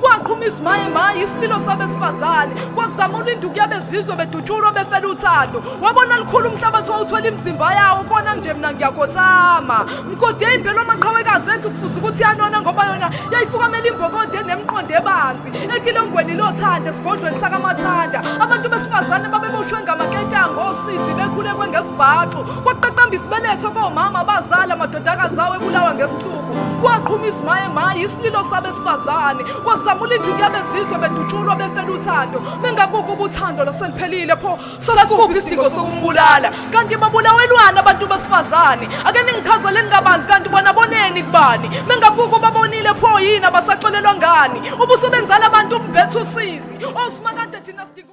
kwaqhuma izimaye maye isililo sabesifazane kwazama ulinduku yabezizwe bedutshulwa befela uthando wabona lukhulu umhlabathi wawuthwela imizimba yawo kona nje mina ngiyakhothama mgode imbelo amaqhawekazi ethi ukufuza ukuthi yanona ngoba yona yayifukamela imbokonde nemqondo ebanzi etilongweni lothanda esigodlweni sakamathanda abantu besifazane babeboshwe ngamaketango osizi bekhulekwe ngesibhaxu kwaqaqamba isibeletho komama abazali amadodakazi awo ebulawa ngesihluku kwaqhuma izimaye maye isililo sabesifazane kwasamula induku yabezizwe bedutshulwa befela uthando bengakuko ubuthando laseliphelile pho sasikuko isidingo sokumbulala kanti babulawelwana abantu besifazane ake ningichazeleni kabanzi kanti bona boneni kubani bengakuko babonile pho yini abasaxolelwa ngani ubusebenzala abantu umbethu usizi osimakade thina sidinga